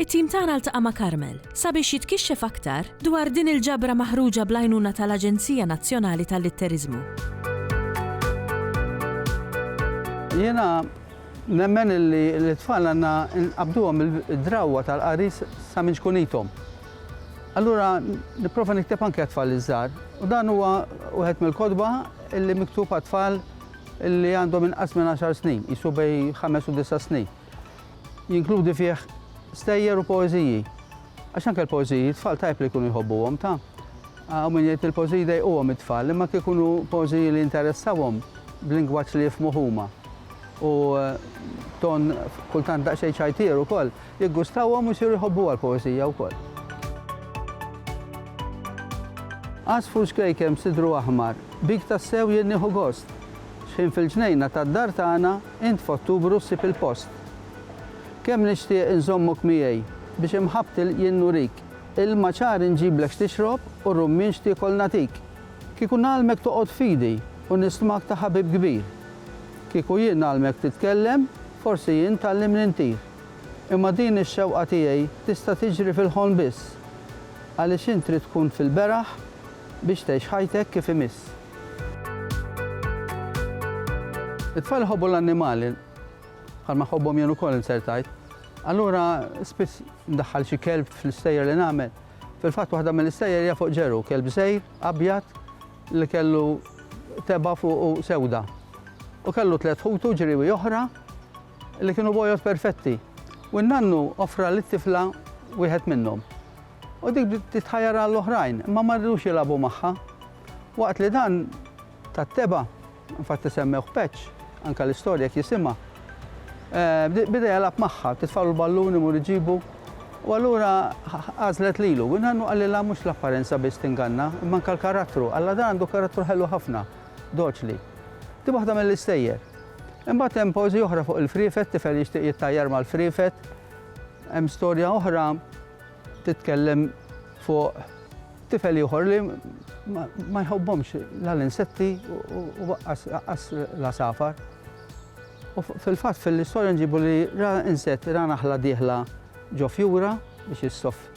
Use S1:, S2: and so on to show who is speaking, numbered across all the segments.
S1: It-tim tagħna ltaqa' ma' Carmel sabiex jitkixxef aktar dwar din il-ġabra maħruġa bl-għajnuna tal-Aġenzija Nazzjonali tal-Litteriżmu.
S2: Jiena nemmen li lit-tfal għandna nqabbduhom id-drawwa tal-qari sa minn ċkunithom. Allura nipprova nikteb anke għat-tfal iż-żgħar u dan huwa wieħed mill-kotba li miktub għat-tfal li għandhom inqas minn għaxar snin, qisu bejn ħames u disa' snin. Jinkludi fih stejjer u poeżiji. Għax anke l-poeżiji t-tfal tajjeb li jkunu jħobbuhom, ta? Hawn min jgħid li l-poeżiji jdejquhom it-tfal, imma kieku jkunu poeżiji li jinteressawhom b'lingwaġġ li jifhmuh huma u b'ton kultant daqsxejn ċajtier ukoll, jiggustawhom u jsiru jħobbuha l-poeżija wkoll. Għasfur xkejken b'sidru aħmar, bik tassew jien nieħu gost. Xħin fil-ġnejna tad-dar tagħna int f'Ottubru ssib il-post. Kemm nixtieq inżommok miegħi biex imħabbti l jien nurik, ilma ċar inġiblek x'tixrob u rummien x'tiekol nagħtik. Kieku ngħallmek toqgħod f'idi u nismak ta' ħabib kbir. Kieku jien ngħallmek titkellem, forsi jien tgħallimni ntir. Imma din ix-xewqa tiegħi tista' tiġri fil-ħolm biss. Għaliex int trid tkun fil-beraħ biex tgħix ħajtek kif imiss. It-tfal iħobbu l-annimali, bħalma ħobbhom jien ukoll insertajt. Allura spiss ndaħħal xi kelb fl-istejjer li nagħmel. Fil-fatt waħda mill-istejjer hija fuq ġeru, kelb żejr, abjad li kellu teba fuq sewda. U kellu tliet ħutu ġriwi oħra li kienu bojot perfetti. U n-nannu offra li tifla wieħed minnhom. U dik titħajjar għall-oħrajn, ma marridux jilabu magħha, Waqt li dan tat-tebgħa, infatti semmewh Patch, anke l-istorja jekk jisimha, beda jilgħab magħha, titfagħlu l-ballun imur iġibu, u allura għażlet lilu. Win Hannu qalilha mhux l-apparenza biss tinganna, imma anke l-karattru. Alla dan għandu karattru ħelu ħafna, doċli. Di waħda mill-istejjer. Imbagħad hemm poeżija oħra fuq il-friefet, tifel jixtieq jittajjar mal-friefet. Hemm storja oħra titkellem fuq Tifel ieħor li ma jħobbhomx la l-insetti u waqqas l-għasafar. U fil-fatt fil-istorja nġibu li ra insett, ra naħla dieħla ġo fjura biex issoff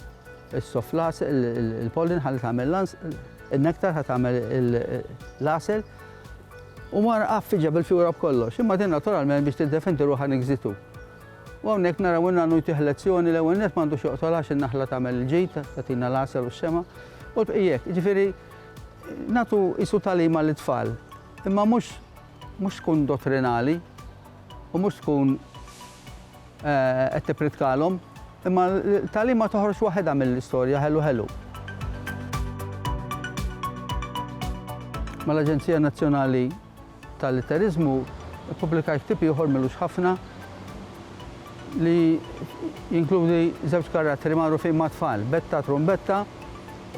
S2: is-soff las il-pollin ħalli tagħmel lans, il-nektar ħa tagħmel l-asel. U mar għaffiġa bil-fjura b'kollox, imma din naturalment biex tiddefendi ruħha nigżitu. U hawnhekk naraw in-nanu jtih lezzjoni, l-ewwel nett m'għandux joqtol għax in-naħla tagħmel il-ġid, tagħtina l-għasel u x-xemgħa, u l-bqijek. Jiġifieri nagħtu qisu tagħlima lit-tfal, imma mhux mhux tkun dottrinali u mhux tkun qed tippritkalhom, imma tagħlima toħroġ waħedha mill-istorja ħelu ħelu. Mal-Aġenzija Nazzjonali ta' litteriżmu, ippubblikajt ktieb ieħor m'ilux ħafna li jinkludi żewġ karattri magħrufin mat-tfal, Betta Trumbetta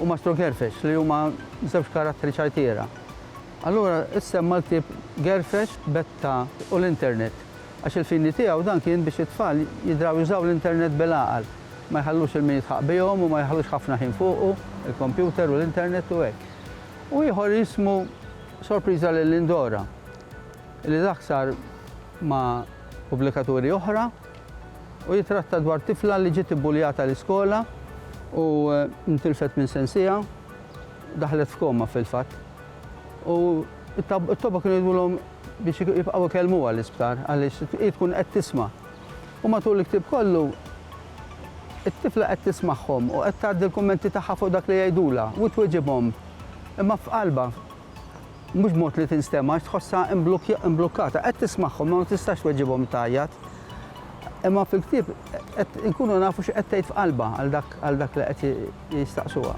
S2: u Mastru Gerfex, li huma żewġ karattri ċajtiera. Allura issemma l-ktieb Gerfex, Betta u l-Internet, għax il-fini tiegħu dan kien biex it-tfal jidraw jużaw l-Internet bil-għaqal, ma jħallux il-min jitħaqq bihom u ma jħallux ħafna ħin fuqu, il-kompjuter u l-Internet u hekk. U ieħor jismu. Sorpriża lil Lindora, li taħsar ma' pubblikaturi oħra u jitratta dwar tifla li ġiet ibbuljata l-iskola u ntilfet minn sensiha, daħlet f'koma fil-fatt. U t-toba kienu jgħidulhom biex jibqgħu jkellmuha l-isptar għaliex hi tkun qed tisma'. U matul il-ktieb kollu it-tifla qed tismagħhom u qed tgħaddi l-kummenti tagħha fuq dak li jgħidulha u tweġibhom imma f'qalbha, mhux b'mod li tinstema' għax tħossha mblukkata. Qed tismagħhom imma ma tistax tweġibhom tgħajjat. Imma fil-ktieb qed inkunu nafu x'qed tgħid f'qalbha għal dak li qed jistaqsuha.